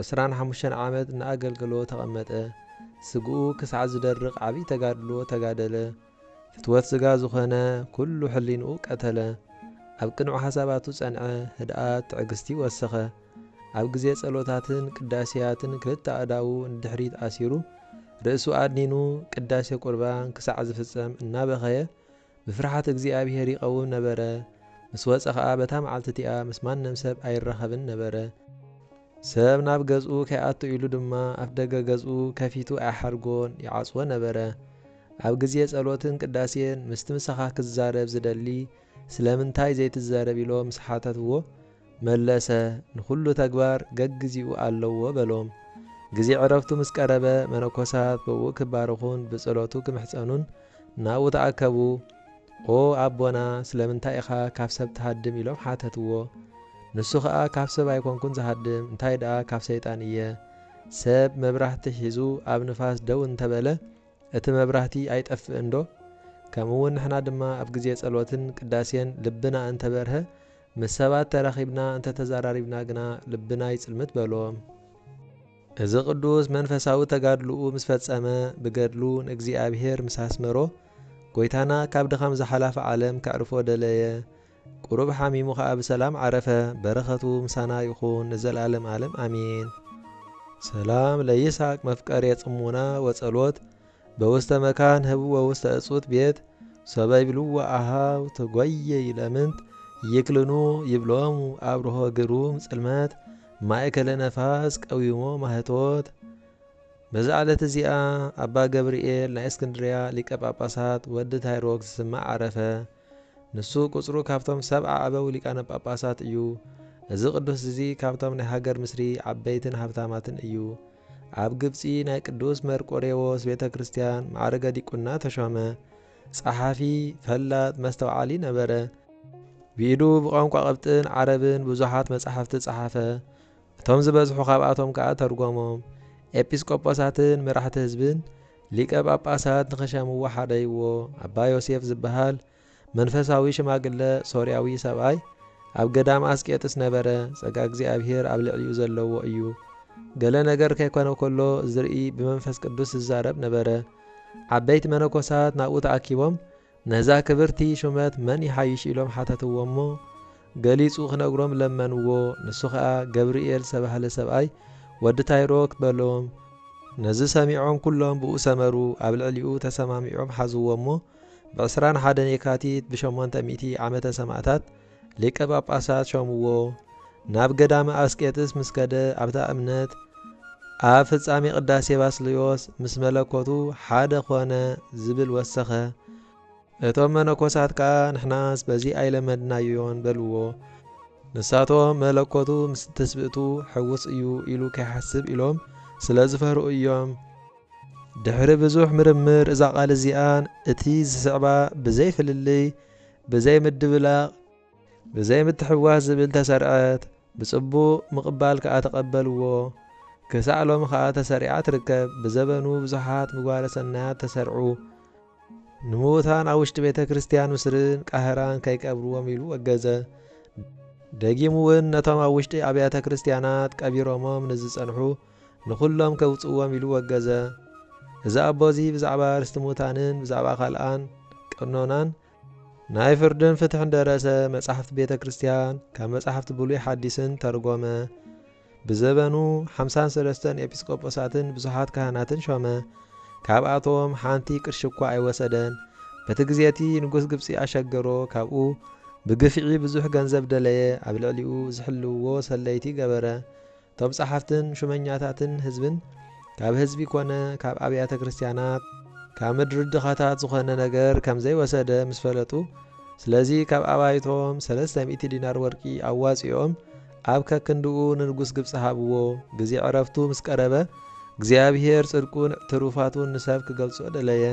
ዕስራን ሓሙሽተን ዓመት እናኣገልገሎ ተቐመጠ። ስግኡ ክሳዕ ዝደርቕ ዓብይ ተጋድሎ ተጋደለ። ፍትወት ስጋ ዝኾነ ኩሉ ሕሊንኡ ቀተለ። ኣብ ቅኑዕ ሓሳባቱ ጸንዐ፣ ህድኣት፣ ትዕግስቲ ወሰኸ። ኣብ ግዜ ጸሎታትን ቅዳሴያትን ክልተ ኣእዳዉ ንድሕሪት ኣሲሩ ርእሱ ኣድኒኑ ቅዳሴ ቁርባን ክሳዕ ዝፍጸም እናበኸየ ብፍርሓት እግዚኣብሄር ይቐውም ነበረ፣ ምስ ወጸ ኸኣ በታ መዓልቲ እቲኣ ምስ ማንም ሰብ ኣይራኸብን ነበረ። ሰብ ናብ ገዝኡ ከይኣቱ ኢሉ ድማ ኣፍ ደገ ገዝኡ ከፊቱ ኣይሓድጎን፣ ይዓጽዎ ነበረ። ኣብ ግዜ ጸሎትን ቅዳሴን ምስቲ ምሳኻ ክዛረብ ዝደሊ ስለምንታይ ዘይትዛረብ ኢሎም ምስ ሓተትዎ፣ መለሰ፣ ንዅሉ ተግባር ገግዜኡ ኣለዎ በሎም። ግዜ ዕረፍቱ ምስ ቀረበ፣ መነኮሳት ብእኡ ኪባረኹን ብጸሎቱ ኪምሕጸኑን ናብኡ ተኣከቡ። ኦ ኣቦና፣ ስለምንታይ ኢኻ ካብ ሰብ ትሃድም? ኢሎም ሓተትዎ። ንሱ ኸኣ ካብ ሰብ ኣይኰንኩን ዝሃድም፣ እንታይ ደኣ ካብ ሰይጣን እየ። ሰብ መብራህቲ ሒዙ ኣብ ንፋስ ደው እንተ በለ፣ እቲ መብራህቲ ኣይጠፍእንዶ? ከምኡውን ንሕና ድማ ኣብ ግዜ ጸሎትን ቅዳሴን ልብና እንተ በርሀ፣ ምስ ሰባት ተራኺብና እንተ ተዛራሪብና ግና ልብና ይጽልምት በሎም። እዚ ቅዱስ መንፈሳዊ ተጋድሎኡ ምስ ፈጸመ ብገድሉ ንእግዚኣብሔር ምስ ኣስመሮ ጎይታና ካብ ድኻም ዝሓላፈ ዓለም ከዕርፎ ደለየ ቁሩብ ሓሚሙ ከኣ ብሰላም ዓረፈ በረኸቱ ምሳና ይኹን ንዘልኣለም ኣለም ኣሜን። ሰላም ለይስሐቅ መፍቀሬ ጽሙና ወጸሎት በውስተ መካን ህብዎ ውስተ እጹት ቤት ሶበ ይብልዎ አኀው ተጎየዩ ለምንት ይክልኑ ይብሎሙ አብርሆ ግሩም ጽልመት ማእከለ ነፋስ ቀዊሞ ማኅቶት በዛ ዕለት እዚኣ ኣባ ገብርኤል ናይ እስክንድርያ ሊቀ ጳጳሳት ወዲ ታይሮክ ዝስማዕ ዓረፈ። ንሱ ቁጽሩ ካብቶም ሰብዓ ኣበው ሊቃነ ጳጳሳት እዩ። እዚ ቅዱስ እዚ ካብቶም ናይ ሃገር ምስሪ ዓበይትን ሃብታማትን እዩ። ኣብ ግብጺ ናይ ቅዱስ መርቆሬዎስ ቤተ ክርስቲያን ማዕርገ ዲቁና ተሾመ። ጸሓፊ፣ ፈላጥ፣ መስተውዓሊ ነበረ። ብኢዱ ብቋንቋ ቅብጥን ዓረብን ብዙሓት መጻሕፍቲ ጸሓፈ፣ እቶም ዝበዝሑ ካብኣቶም ከኣ ተርጎሞም። ኤጲስቆጶሳትን መራሕቲ ህዝብን ሊቀ ጳጳሳት ንኽሸምዎ ሓደይዎ፣ ኣባ ዮሴፍ ዝበሃል መንፈሳዊ ሽማግለ ሶርያዊ ሰብኣይ ኣብ ገዳም ኣስቄጥስ ነበረ፣ ጸጋ እግዚኣብሔር ኣብ ልዕሊኡ ዘለዎ እዩ። ገለ ነገር ከይኮነ ከሎ ዝርኢ ብመንፈስ ቅዱስ ዝዛረብ ነበረ። ዓበይቲ መነኮሳት ናብኡ ተኣኪቦም ነዛ ክብርቲ ሹመት መን ይሓይሽ ኢሎም ሓተትዎ እሞ ገሊጹ ክነግሮም ለመንዎ፣ ንሱ ከኣ ገብርኤል ዝተባህለ ሰብኣይ ወዲ ታይሮክ በሎም። ነዚ ሰሚዖም ኩሎም ብኡ ሰመሩ፣ ኣብ ልዕሊኡ ተሰማሚዖም ሓዝዎ እሞ ብ ዕስራን ሓደን የካቲት ብ ሸሞንተ ሚእቲ ዓመተ ሰማእታት ሊቀ ጳጳሳት ሾምዎ ናብ ገዳመ ኣስቄጥስ ምስ ከደ ኣብታ እምነት ኣብ ፍጻሜ ቅዳሴ ባስልዮስ ምስ መለኮቱ ሓደ ኮነ ዝብል ወሰኸ። እቶም መነኮሳት ከኣ ንሕናስ በዚ ኣይለመድናዮን በልዎ። ንሳቶም መለኮቱ ምስ ትስብእቱ ሕዉስ እዩ ኢሉ ከይሓስብ ኢሎም ስለ ዝፈርሁ እዮም። ድሕሪ ብዙሕ ምርምር እዛ ቃል እዚኣን እቲ ዝስዕባ ብዘይ ፍልልይ፣ ብዘይ ምድብላቕ፣ ብዘይ ምትሕውዋስ ዝብል ተሰርዐት፣ ብጽቡቕ ምቕባል ከኣ ተቐበልዎ፣ ክሳዕ ሎሚ ከኣ ተሰሪዓ ትርከብ፣ ብዘበኑ ብዙሓት ምግባረ ሰናያት ተሰርዑ፣ ንምዉታን ኣብ ውሽጢ ቤተ ክርስቲያን ምስርን ቃህራን ከይቀብርዎም ኢሉ ወገዘ፣ ደጊሙ ውን ነቶም ኣብ ውሽጢ ኣብያተ ክርስቲያናት ቀቢሮሞም ንዝጸንሑ፣ ንኹሎም ከውጽእዎም ኢሉ ወገዘ። እዚ ኣቦ እዚ ብዛዕባ ርስቲ ሙታንን ብዛዕባ ካልኣን ቀኖናን፣ ናይ ፍርድን ፍትሕን ደረሰ፣ መጻሕፍቲ ቤተ ክርስቲያን ካብ መጻሕፍቲ ብሉይ ሓዲስን ተርጎመ፣ ብዘበኑ ሓምሳን ሰለስተን ኤጲስቆጶሳትን ብዙሓት ካህናትን ሾመ፣ ካብኣቶም ሓንቲ ቅርሺ እኳ ኣይወሰደን፣ በቲ ግዜ እቲ ንጉስ ግብጺ ኣሸገሮ ካብኡ ብግፍዒ ብዙሕ ገንዘብ ደለየ፣ ኣብ ልዕሊኡ ዝሕልውዎ ሰለይቲ ገበረ፣ እቶም ጸሓፍትን ሹመኛታትን ህዝብን ካብ ህዝቢ ኮነ ካብ ኣብያተ ክርስቲያናት ካብ ምድሪ ድኻታት ዝኾነ ነገር ከም ዘይወሰደ ምስ ፈለጡ ስለዚ ካብ ኣባይቶም ሰለስተ ሚእቲ ዲናር ወርቂ ኣዋጺኦም ኣብ ከክንድኡ ንንጉስ ግብጺ ሃብዎ። ግዜ ዕረፍቱ ምስ ቀረበ እግዚኣብሄር ጽድቁን ትሩፋቱን ንሰብ ክገልጾ ደለየ።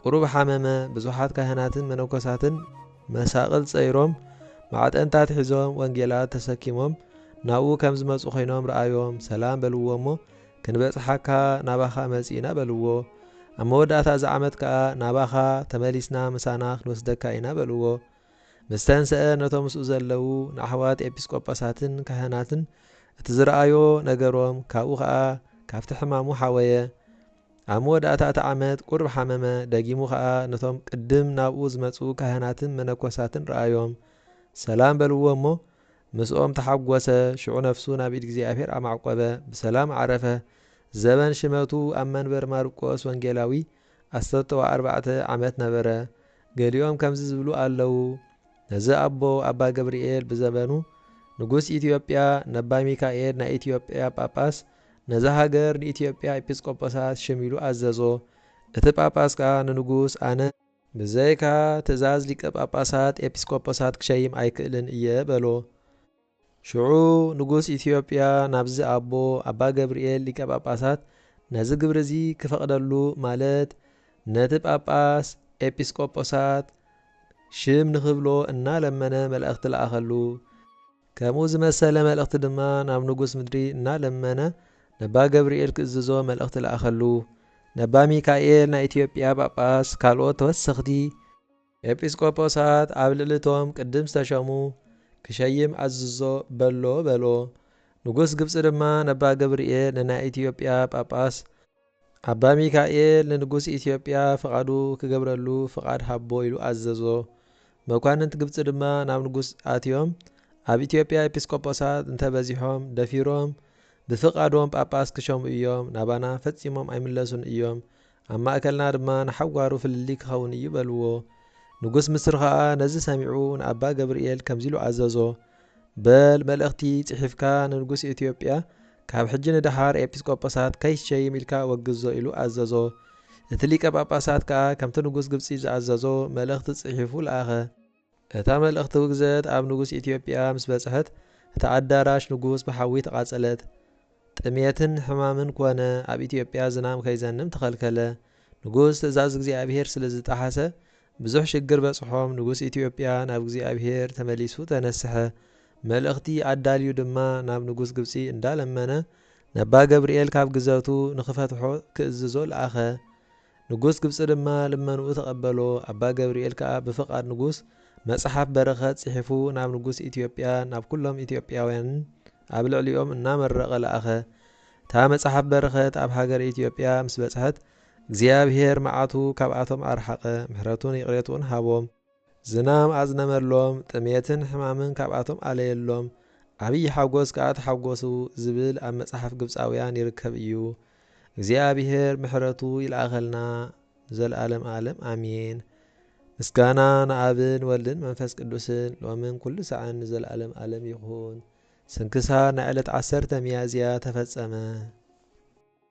ቁሩብ ሓመመ፣ ብዙሓት ካህናትን መነኮሳትን መሳቕል ጸይሮም፣ ማዕጠንታት ሒዞም፣ ወንጌላት ተሰኪሞም፣ ናብኡ ከም ዝመጹ ዀይኖም ረኣዮም፣ ሰላም በልዎ እሞ፣ ክንበጽሓካ ናባኻ መጺእና በልዎ። ኣብ መወዳእታ እዚ ዓመት ከኣ ናባኻ ተመሊስና ምሳና ክንወስደካ ኢና በልዎ። ምስ ተንስኣ ነቶም ምስኡ ዘለዉ ንኣሕዋት ኤጲስቆጶሳትን ካህናትን እቲ ዝረኣዮ ነገሮም፣ ካብኡ ኸኣ ካብቲ ሕማሙ ሓወየ። ኣብ መወዳእታ እቲ ዓመት ቁሩብ ሓመመ፣ ደጊሙ ኸኣ ነቶም ቅድም ናብኡ ዝመጹ ካህናትን መነኮሳትን ረኣዮም፣ ሰላም በልዎ እሞ፣ ምስኦም ተሓጐሰ፣ ሽዑ ነፍሱ ናብ ኢድ እግዚኣብሔር ኣማዕቈበ፣ ብሰላም ዓረፈ፣ ዘበን ሽመቱ ኣብ መንበር ማርቆስ ወንጌላዊ ኣሰተውተዋ ኣርባዕተ ዓመት ነበረ፣ ገሊኦም ከምዚ ዝብሉ ኣለዉ፣ ነዚ ኣቦ ኣባ ገብርኤል ብዘበኑ ንጉሥ ኢትዮጵያ ነባ ሚካኤል ናይ ኢትዮጵያ ጳጳስ ነዛ ሃገር ንኢትዮጵያ ኤጲስቆጶሳት ሸሚሉ ኣዘዞ። እቲ ጳጳስ ከኣ ንንጉስ ኣነ። ብዘይካ ትእዛዝ ሊቀ ጳጳሳት ኤጲስቆጶሳት ክሸይም ኣይክእልን እየ በሎ። ሽዑ ንጉስ ኢትዮጵያ ናብዚ ኣቦ ኣባ ገብርኤል ሊቀ ጳጳሳት ነዚ ግብሪ እዚ ክፈቕደሉ ማለት ነቲ ጳጳስ ኤጲስቆጶሳት ሽም ንኽብሎ እናለመነ መላእኽቲ ለኣኸሉ። ከምኡ ዝመሰለ መልእኽቲ ድማ ናብ ንጉስ ምድሪ እናለመነ ነባ ገብርኤል ክእዝዞ መልእኽቲ ለኣኸሉ። ነባ ሚካኤል ናይ ኢትዮጵያ ጳጳስ ካልኦት ተወሰኽቲ ኤጲስቆጶሳት ኣብ ልዕሊ እቶም ቅድም ዝተሸሙ ክሸይም ኣዝዞ በሎ በሎ። ንጉስ ግብጺ ድማ ነባ ገብርኤል ንናይ ኢትዮጵያ ጳጳስ ኣባ ሚካኤል ንንጉስ ኢትዮጵያ ፍቓዱ ክገብረሉ ፍቓድ ሃቦ ኢሉ ኣዘዞ። መኳንንት ግብጺ ድማ ናብ ንጉስ ኣትዮም ኣብ ኢትዮጵያ ኤጲስቆጶሳት እንተ በዚሖም ደፊሮም ብፍቓዶም ጳጳስ ክሸሙ እዮም፣ ናባና ፈጺሞም ኣይምለሱን እዮም፣ ኣብ ማእከልና ድማ ንሓዋሩ ፍልልይ ክኸውን እዩ በልዎ። ንጉስ ምስሪ ኸኣ ነዚ ሰሚዑ ንኣባ ገብርኤል ከምዚ ኢሉ ኣዘዞ፣ በል መልእኽቲ ጽሒፍካ ንንጉስ ኢትዮጵያ ካብ ሕጂ ንደሓር ኤጲስቆጶሳት ከይትሸይም ኢልካ ኣወግዞ ኢሉ ኣዘዞ። እቲ ሊቀ ጳጳሳት ከኣ ከምቲ ንጉስ ግብጺ ዝኣዘዞ መልእኽቲ ጽሒፉ ለኣኸ። እታ መልእኽቲ ውግዘት ኣብ ንጉስ ኢትዮጵያ ምስ በጽሐት እታ ኣዳራሽ ንጉስ ብሓዊ ተቓጸለት። ጥሜትን ሕማምን ኮነ፣ ኣብ ኢትዮጵያ ዝናም ከይዘንም ተኸልከለ። ንጉስ ትእዛዝ እግዚኣብሄር ስለ ዝጠሓሰ ብዙሕ ሽግር በጽሖም፣ ንጉስ ኢትዮጵያ ናብ እግዚኣብሄር ተመሊሱ ተነስሐ። መልእኽቲ ኣዳልዩ ድማ ናብ ንጉስ ግብጺ እንዳለመነ ነባ ገብርኤል ካብ ግዘቱ ንክፈትሖ ክእዝዞ ለኣኸ። ንጉስ ግብጺ ድማ ልመንኡ ተቐበሎ፣ ኣባ ገብርኤል ከኣ ብፍቓድ ንጉስ መጽሓፍ በረኸት ጽሒፉ ናብ ንጉስ ኢትዮጵያ ናብ ኩሎም ኢትዮጵያውያንን ኣብ ልዕሊኦም እናመረቐ ለኣኸ። እታ መጽሓፍ በረኸት ኣብ ሃገረ ኢትዮጵያ ምስ በጽሐት እግዚኣብሔር መዓቱ ካብኣቶም ኣርሓቐ፣ ምሕረቱን ይቕሬትኡን ሃቦም። ዝናም ኣዝነመሎም፣ ጥሜትን ሕማምን ካብኣቶም ኣለየሎም፣ ዓብዪ ሓጐስ ከኣ ተሓጐሱ ዝብል ኣብ መጽሓፍ ግብጻውያን ይርከብ እዩ። እግዚኣብሄር ምሕረቱ ይልኣኸልና ንዘልኣለም ኣለም ኣሜን። ምስጋና ንኣብን ወልድን መንፈስ ቅዱስን ሎምን ኩሉ ሳዕን ንዘልኣለም ኣለም ይኹን። ስንክሳር ናይ ዕለት ዓሰርተ ሚያዝያ ተፈጸመ።